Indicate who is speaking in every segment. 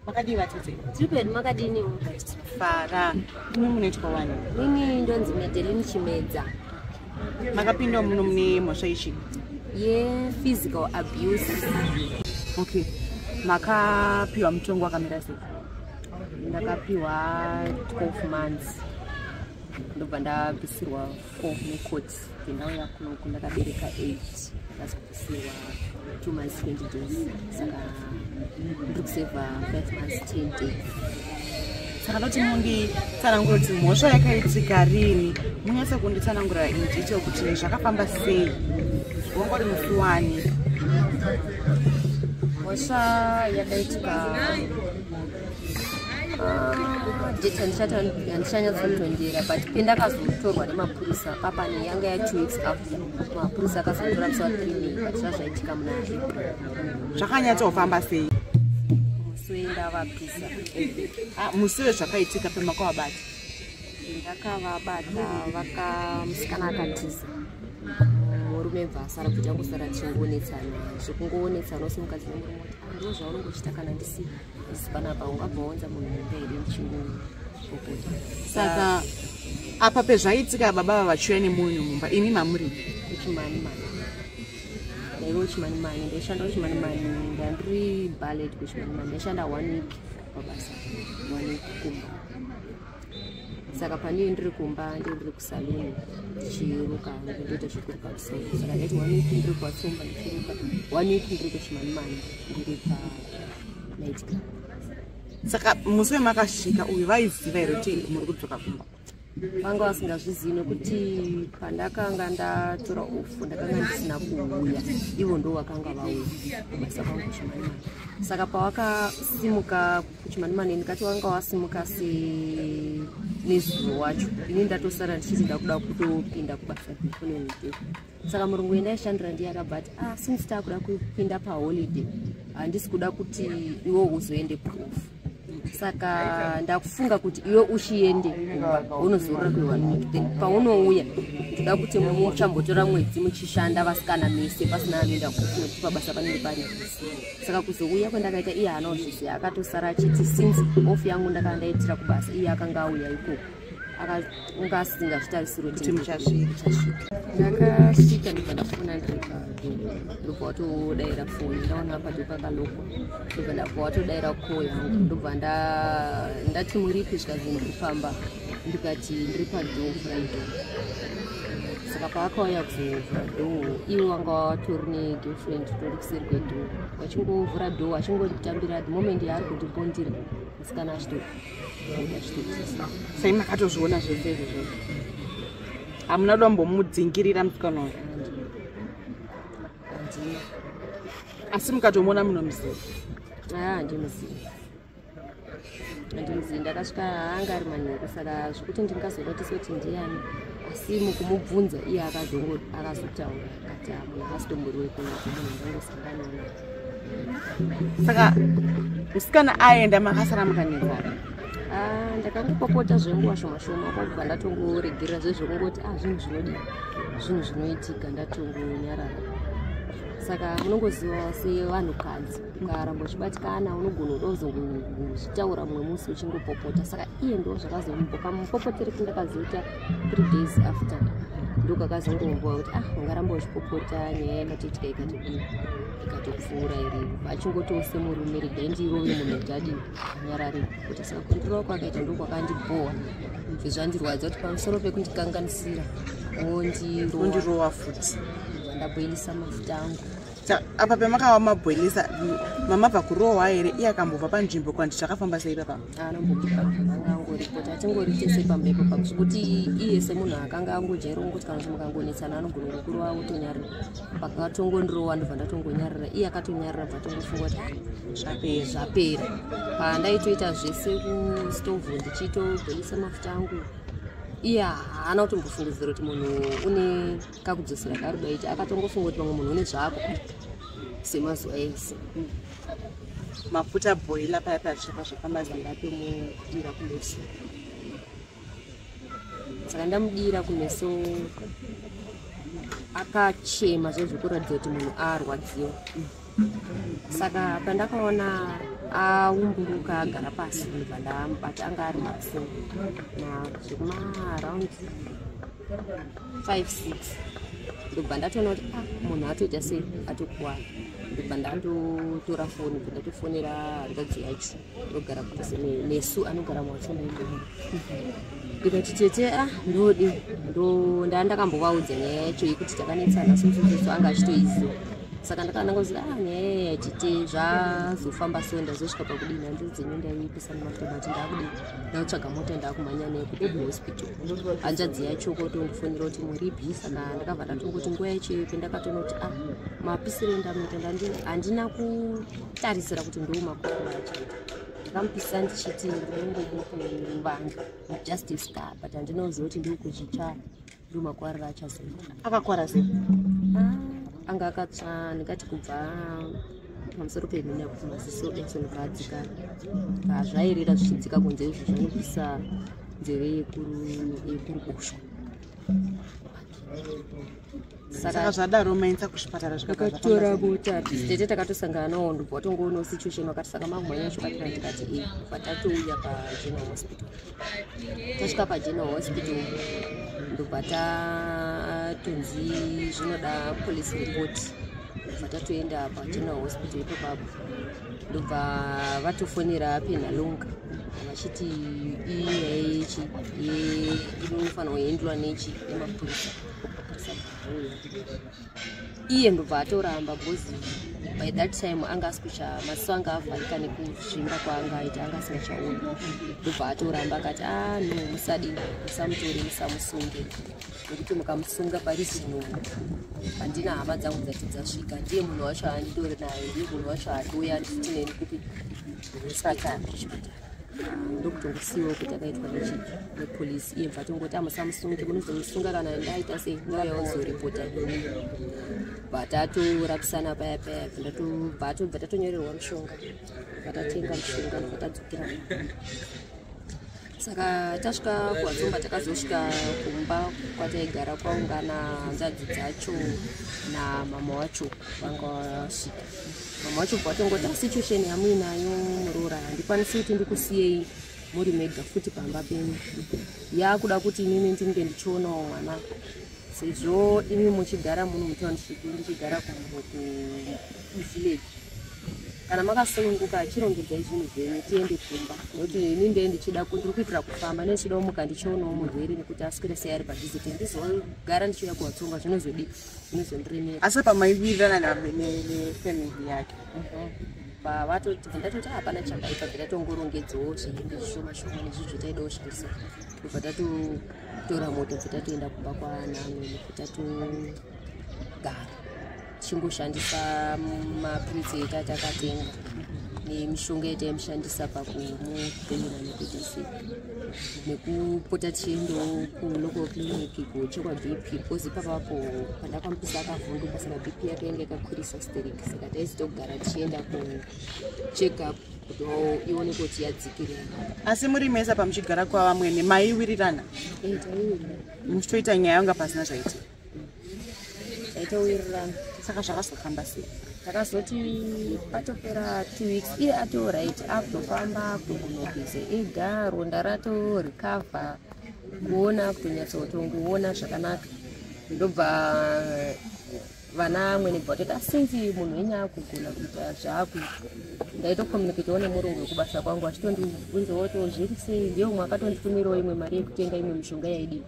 Speaker 1: makadii vatete tiri pedu makadini
Speaker 2: fara
Speaker 1: imi munoitwa wani ini ndonzi
Speaker 2: medelin chimedza
Speaker 1: makapinda muno mune mhosva ichi yephysical
Speaker 2: abuse okay
Speaker 1: makapiwa mutongo wakamira sei ndakapiwa
Speaker 2: 12 months ndobva ndabvisirwa fo necot ndinauya kunoku ndakabereka eight ndazobvisirwa two months twenty days saka ndiri kuseva five months ten days saka
Speaker 1: ndoti munditsanangura kuti mhosva yakaitika rini munyatsa kunditsanangura indito kuti zvakafamba sei wangori musi wani
Speaker 2: mhosva yakaitika date handichanyatsondondera but pendakazotorwa nemapurisa papane yanga ya two weeks after mapurisa akazotora musi wa three may but zvazvaitika muna
Speaker 1: zvakanyatsofamba sei musi
Speaker 2: wenda vapisa ah,
Speaker 1: musi wezvakaitika pemakavabata ndakavabata
Speaker 2: vakamusikana akatiza murume bva asara kuti angosara tichingoonetsana zvekungoonetsana usimukadzi nemurume kuti andiwo ah, zvaunongochita kana ndisiva Because panapa ungabhounza munhu mumbe iri muchinguru pokuti. Saka
Speaker 1: apa pezvaitika baba ava vachiuya nemunhu mumba imi mamuri kuchimani mani
Speaker 2: ndaive kuchimani mani ndaishanda kuchimani mani ndandiri ballet kuchimani mani ndaishanda one week pabasa one week kumba saka pane ndiri kumba ndiri kusaluni ndichiruka ndoita zvekuruka kusoma saka ndaiti one week ndiri kwatsomba ndichiruka one week ndiri kuchimanimani ndiri pa night club saka
Speaker 1: musi wemakasvika uyu vaiziva here kuti muri kudzoka kumba vanga
Speaker 2: vasingazvizivi nekuti pandakanga ndatora ofu ndakanga ndisina kuuya ivo ndo vakanga vauya kubasa kwangu kuchimanimani saka pawakasimuka chimani mani ndikati wanga wasimuka se nezuro wacho ini ndatosara ndichiti ndakuda kutopinda kubasa kunoite saka murungu yenda ishandira ndiye akabva ati ah since takuda kupinda paholiday handisi kuda kuti iwo uzoende proof saka ndakufunga kuti iwe uchiende kumba unozorora kwewanite paunouya ndoda kuti muchambotora mwedzi muchishanda vasikana mese pasina anoenda kufunga kuti pabasa panenge pari saka kuzouya kwandakaita iye haana kuzviziva akatosara achiti since off yangu ndakanga ndaitira kubasa iye akanga auya ikoko akanga asingazvitarisiro kuti muchasvika ndakasvika ndibva ndafona ndiripa ndobva watodaira foni ndaona padyo pakaloko ndobva ndabva watodaira ko yangu ndobva ndati muripi zvikanzi ndikufamba ndikati ndiri padoo friday saka paakauya kuzovhura doo iwe wanga watori negirlfriend tori kuseri kwedoo wachingovhura doo achingonditambira the moment yaari kundibondira musikana achitoachitotisa sai
Speaker 1: makatozviona zvese izvo zvose hamuna kuda mbomudzingirira musikana uyo
Speaker 2: asi
Speaker 1: mukatomuona munomuziva aa
Speaker 2: ndimuziva andinzi ndakasvika anga ari manheru saka zvekuti ndingazonotisa kuti ndiyani asi mukumubvunza iye akazongo akazotaura kati amuna ah, asitombori wekunakumunhu ndangosanganaona
Speaker 1: saka musikana aenda makasara mukanezana ah,
Speaker 2: ndakangopopota zvenguva shoma shoma kwakubva ndatongoregerera zvezvekungoti a ah, zvinhu zvinodii zvinhu zvinoitika ndatongonyarara saka munongoziva sevanhukadzi ukaramba uchibatikana unogona kuda kuzozvitaura mumwe musi uchingopopota saka iye ndo zvakazombo kamupopoteri kindakazoita three days after ndokakazongomboa kuti ah ungaramba uchipopota nyaya yakatoitika ikatokii ikatopfuura iri achingotose murume regai ndirove munhu kuti adii anyarare kuti saka kundirova kwakaita ndokwakandibhowa izvi zvandirwadza kuti pamusoro pekundikanganisira wondirova futi ndabhoilisa mafuta angu apa pemakawa
Speaker 1: mabhoilisa mamabva kurohwa here iye akambobva panzvimbo kwandi zvakafamba sei papa anombobudaangangoripota
Speaker 2: atingori tese pambepo pakuti iye semunhu akanga angojaira kungoti kana kuti mukangonetsana anogona kukurova otonyarira pakatongondirowa ndobva ndatongonyarira iye akatonyarira bva tongofunga kuti ah, zvapera zvapera pandaitoita zvese kustovhu ndichiitobhoilisa mafuta angu iye haana kutombofungidzira kuti munhu une kakudzosera karudo iti akatongofunga kuti vamwe munhu une zvako semazuva ese
Speaker 1: mafuta boila paya paya zvichapa zvafamba zanga tomudira kumeso
Speaker 2: saka ndamudira kumeso akachema zvezvekuratidza kuti munhu arwadziwa saka pandakaona aumburuka agara pasi ndibva ndamubata anga ari maso nazvemaaround five six ndobva ndatoona kuti a ah, munhu atoita sei atokuwara ndobva ndatotora foni bva ndatofonera hanzvadzi yacho ndogara kudzi nesu anogara mwachondo ndikati tete a ah, ndodi ndaa ndakambovaudza nyaya yacho yekuti takanetsana sosososo anga achitoiziva saka ndakananga kuti a ah, nyaya yatete zvazofamba so ndazosvika pakudini handiri dzenyu ndaipisa nematomati ndaakudii ndakutsvaga mota ndaakumhanya naye kuti kuhospital hanzvadzi yacho kotondifonera kuti muripi saka ndakabva ndatongokuti nguva yacho iyope ndakatonoti a ah, mapisire ndamuita handina ku tarisira kuti ndiwo makuru acho ndakamupisira ndichiti ndinongomukuvange just a scar but handinoziva kuti ndiri kuzvitsvara ndo makwariro achazoita akakwara sei
Speaker 1: ah,
Speaker 2: anga akatsva ndingati kubva pamusoro pemhina kuti maziso action kaadzika kazvairira zvichidzika kunze izvo zvanobvisa nzeve yekuruboshwa
Speaker 1: saka zvadaro mainisa kuchipatara zvakatora bota
Speaker 2: tete takatosangana nawo ndobva watongoonawo situation wakati saka makumhanya chipatara tikati e eh, bva tatouya pageneral hospital tasvika pageneral hospital ndobva tatonzi zvinoda police report ndobva tatoenda pageneral hospital ipo papo ndobva vatofonera penhalonga vachiti inyaya yechi inofanirwa kuendwa nechi nemapurisa iye ndobva atoramba because by that time anga asikucha maziso anga avharika nekuzvimba kwaanga aita anga asingachaoni ndobva atoramba akati a ah, no musadi musamutore musamusunge nekuti mukamusunga pari zvinonhu handina hama dzangu dzati dzasvika ndiye munhu wacho anditori naye ndiye munhu wacho atoya nditi neni kupi saka chipatara ndokutongosiyiwa kuti akaitwa nechiki nepolisi iye bva tongoti amusamusunge munozomusunga kana ndaita sei nguva yaozoripota bvataturapisana paya paya bvatobva tatonyorerwa mushonga vatatenga mushonga nokatadzokera saka tasvika kuwadzomba takazosvika kumba kwataigara kwaungana nzadzi dzacho namama wacho vanga vasvika vamwe vacho bva vatongoti asi situation yamuinayo muroora handikwanisi kuti ndikusiyei muri mega futi pamba penyu yaakuda kuti inini ndinge ndichionawo mwana sezvo imi muchigara muno mutownship ndichigara kuvillage kana makasununguka chirongedzai zvinhu zvenyu tiende kumba nokuti ini ndee ndichida ndiri kuitira kufamba neichida umuka ndichionawo murwere nekuti aswere sei ari padiziti ndizogara ndichiuya kuvatsonga zvinozodii asi apa maiwirirana
Speaker 1: nefamily yake pavatoti mhm. ndatoti
Speaker 2: ah, hapana chakaipa bvetatongorongedzawo zviindi zvishoma shoma nezvi zvitaida kushandisa ndobva tatotora moto bvetatoenda kumba kwaanamwe bvetatogara tichingoshandisa mapritsi eta takatenga nemishonga yataimushandisa pakumupemera nekuita sei nekupota tichiendawo kulocal clinic kuchekwa bp because ipapapo pandakamupisa akavhunduka saka bp yake yanga yakakwirisa steric saka taizitogara tichienda kucheck up kuti ione kuti yadzikirira asi muri mesa
Speaker 1: pamuchigara kwavamwene maiwirirana eh,
Speaker 2: muchitoita nyaya
Speaker 1: yanga pasina zvaitika taitowirirana
Speaker 2: saka zvakazofamba
Speaker 1: sei takazoti
Speaker 2: patopera two weeks iye ato right akutofamba kugunogeze ega ronda rato recover kuona kutonyatsotongoona zvakanaka ndobva vana amwene bva toita since munhu wenye akugona kuita zvaakuita ndaitokomuniketawo nemurungu wekubasa kwangu achitondibvunzawo to zviri sei ndiye umwe akatonditumirawo imwe mari yekutenga imwe mishonga yaidii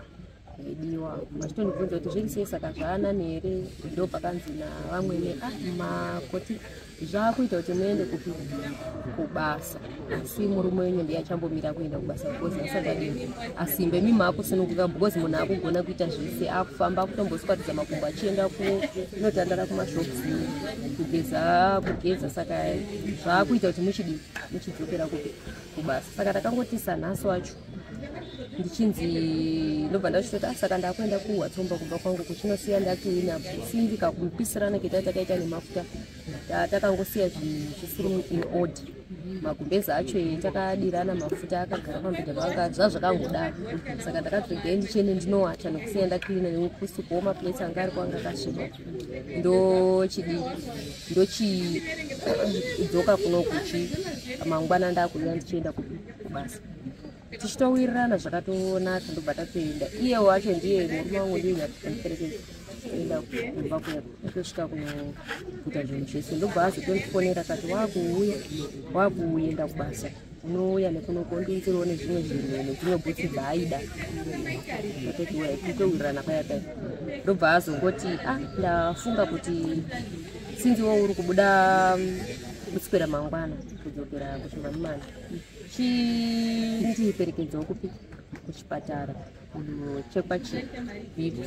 Speaker 2: zvaidiwa vachitondibvunza kuti zvirisei saka zvaanani here ndo pakanzi navamwene ah, makoti zvakuita kuti muende kupi kubasa asi murume wenyu ndiye achambomira kuenda kubasa because asingadiwe asimbe mi maakusununguka because munhu akugona kuita zvese akufamba akutomboswatidza makumbo achienda kunotandara kumashops kugeza kugeza saka zvakuita kuti muchidii muchidzokera kupi kubasa saka takangotisanhasi wacho ndichinzi ndobva ndachitoti ah, saka ndakuenda kuwatsomba kumba kwangu kuchinosiya ndakiina simbi kakupisirana ketai takaita nemafuta takangosiya zvisiri in ord magumbeza acho e takadirana mafuta akagara pambeda panga zvazvakangodaro saka ndakatoregai ndichiende ndinowacha nekusiya ndakiina nekusukuwo maplace anga ari kwanga kasviba ndochidi ndochidzoka kunokuchi mangwana ndakuuya ndichienda kupi basa tichitowirirana zvakatonaka ndobva tatoenda iye wacho ndiye murume wangu ndiyeaerekeza enda kumba kwedu atosvika kuita zvinhu zvese ndobva azotondifonera kati wakuuya wakuenda kubasa unouya nekunoku ondiunzirawo nezvimwe zvinhu nedzimwe bhutsi dzaaida atotiwa titowirirana paya paya ndobva azongoti a ah, ndafunga kuti sinziwo uri kubuda mm, kutsipera mangwana kudzokera kushimamimana chindiperekedzawo kupi kuchipatara kunochekwa chibp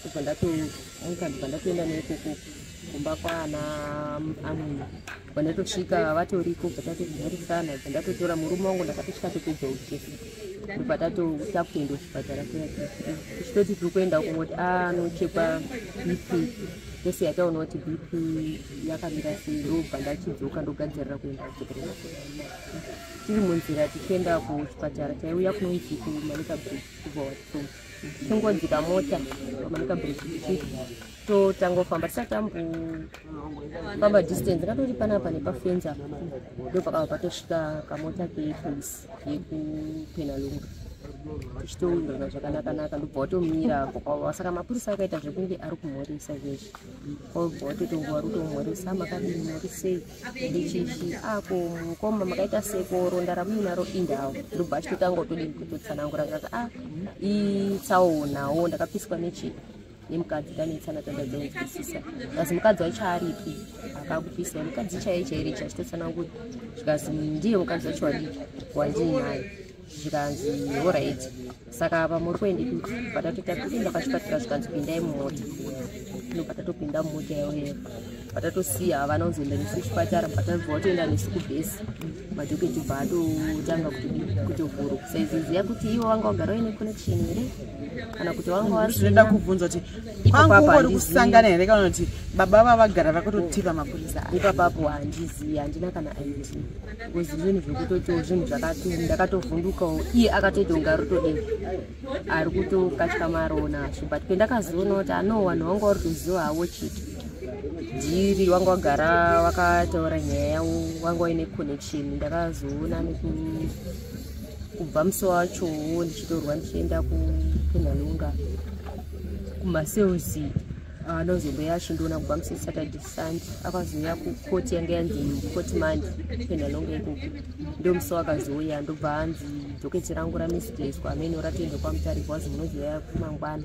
Speaker 2: kubva ndatomuka ndibva ndatoenda neikoko kumba kwaana amwene bva ndatosvika vatoriko bva tatozimhorisana bva ndatotora murume wangu ndakatosvika topedza uchesi bva tatokuta kuenda kuchipatara kuchitoti tiri kuenda kungoti anochekwa ah, bp tese yataona kuti bp yakamira sei ndobva ndachidzoka ndogadzirira kuenda kuchipatara tiri munzira tichienda kuchipatara taiuya kunonzi kumanika bridge kubva wato tongodzika mota pamanika bridge tichiti totangofamba tisati tambofamba distance ngatori panapa nepafenzi apa ndo pakava patosvika kamota kepolice yekupenalunga tichitowirana zvakanakanaka ndobva watomira kokwava saka mapurisa akaita zvekunge ari kumhoresa zvezvi kwabva watotonguva rutomhoresa makadii mhorisei chichi ako mukoma makaita sekoro ndaramuyi naro indawo ndobva achitotanga utodii kutotsanangura kaka a ah, itsaunawo ndakapiswa nechii nemukadzi tanetsana tandadzonzwisisa kazi mukadzi wacho aripi akakupisa mukadzi chaiye chairichi achitotsanangura zvikazi ndiye mukadzi wacho wadii wandiinayo zvikanzi horit saka apa muri kuendi kuti bva tatoita kupinda pachipatara zvikanzi pindai mumota tinobva tatopinda mumota yaoyero bva tatosiya havana kuzoenda nesu kuchipatara bva tabva watoenda nesu kubhesi madhoketi bva atotanga kutovhuru saiziziya kuti ivo vanga vagara vaine connection here kana kuti vanga vasinoda kubvunza kuti
Speaker 1: kwangungori kusangana here kana kuti baba vavagara vakototipa mapurisa ipapapo handizivi
Speaker 2: handina kana id because zvinhu zvekutotiwo zvinhu zvakati ndakatovhundukawo iye akatoita kunge ari kutodii ari kutokatya marowo nazvo but pendakazoona kuti ano vanhu vanga vari kuziva havo chiti dhiri wanga wagara wakataura nyaya yavo wanga waine connection ndakazoona nekubva musi wachowo ndichitorwa ndichienda kunhalunga kumaselsi Ah, nozombo yacho ndoona kubva musi saturday sunday akazouya kukoti yanga yanzi koti mandi penda longa ikoko ndomusi wakazouya ndobva hanzi doketi rangu ramisdeswa amene ratoenda kwamutarika wazi munozouya kumangwana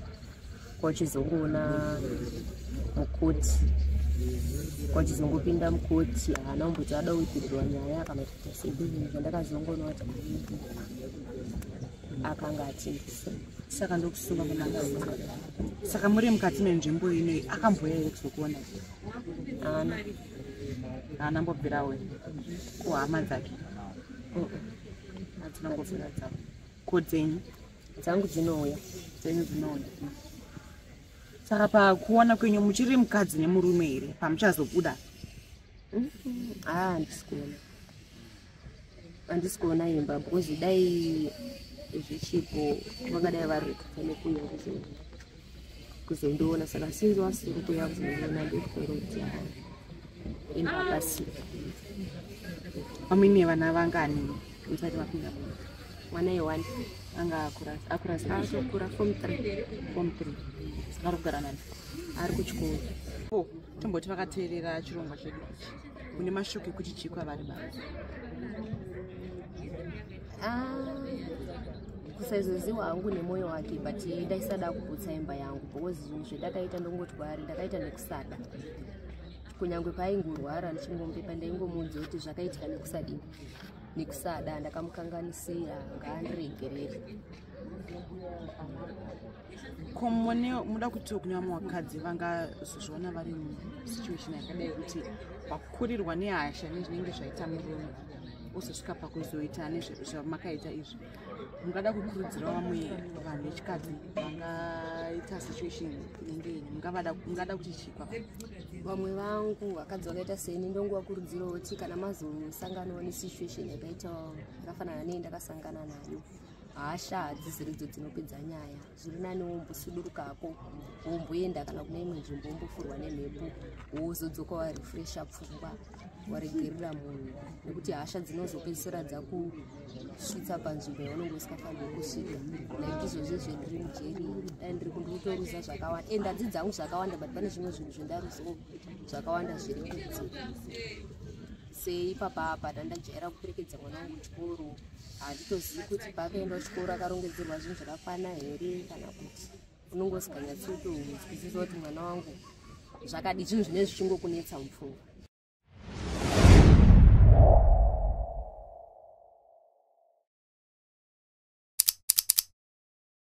Speaker 2: kwachizongoona mukoti kwachizongopinda mukoti haana kumboti ada kuipindurwa nyaya kana kuita sei ndozvandakazongoona kuti akanga achingisa saka ndokusunga
Speaker 1: nemakasunga saka muri mukati menzvimbo inoi akamboya here kuzokuona haana haana mbobvira we kuhama dzake hadzina mbobvira dzavo ko dzenyu dzangu dzinouya
Speaker 2: dzenyu dzinouya
Speaker 1: saka pakuona kwenyu muchiri mukadzi nemurume here pamuchazobuda haa ndisikuona
Speaker 2: handisi kuona imba because dai zvichipo vangadai vari nekuuya kuzondiona saka sinzi wasiri kuya kuzondiona ndokutoroti imba pasi
Speaker 1: amwine vana vangani musati vapinda mwana yewani
Speaker 2: anga
Speaker 1: akura akura akura form 3 form 3 ari kugara nani ari
Speaker 2: kuchikoro tomboti
Speaker 1: vakateerera chirongwa chedu ichi une mashoko ekuti chii kwavari baba
Speaker 2: ah, kusaizoziwa hangu nemwoyo wake but ndaisada kuputsa imba yangu because zvinhu zvendakaita ndongoti kwaari ndakaita nekusada kunyange paaingorwara ndichingombepa ndaingomuudza kuti zvakaitika nekusadi nekusada ndakamukanganisira ngaandiregerere
Speaker 1: ko mone muda kutiwo kune vamwe vakadzi vangazozviona vari musituation yakadai kuti vakurirwa nehasha nezvinenge zvaita murume ozosvika pakuzoita nezvamakaita izvi mungada kukurudzira vamwe vanhu vechikadzi vangaita situation inenge iyi mungada kuti chikwa vamwe
Speaker 2: vangu vakadzi vakaita seni ndongovakurudzirawo kuti kana mazosanganawo nesituation yakaita yakafanana nei ndakasangana nayo hasha hadziziri idzo dzinopedza nyaya zviri nani wombosuduruka hako womboenda kana kune imwe nzvimbo wombofurwa nemhepo wozodzoka warefresha pfungwa waregerera munhu nekuti hasha dzinozopedzisira dzakusvitsa panzvimbo yaunenge usikafaniri kusvika like izvozvi zvendiri mujeri dai ndiri kundikutoruza zvakawanda and hadzi dzangu zvakawanda but pane zvimwe zvinhu zvendaruzawo zvakawanda zviri kudzi sei papapa tandajaira kuperekedza mwana wangu kuchikoro handitozivi kuti paakaenda chikoro akarongedzerwa zvinhu zvakakwana here kana kuti unongosikanyatsotoudzwisisa kuti mwana wangu zvakadi zvinhu zvine zvichingokunetsa mupfungwa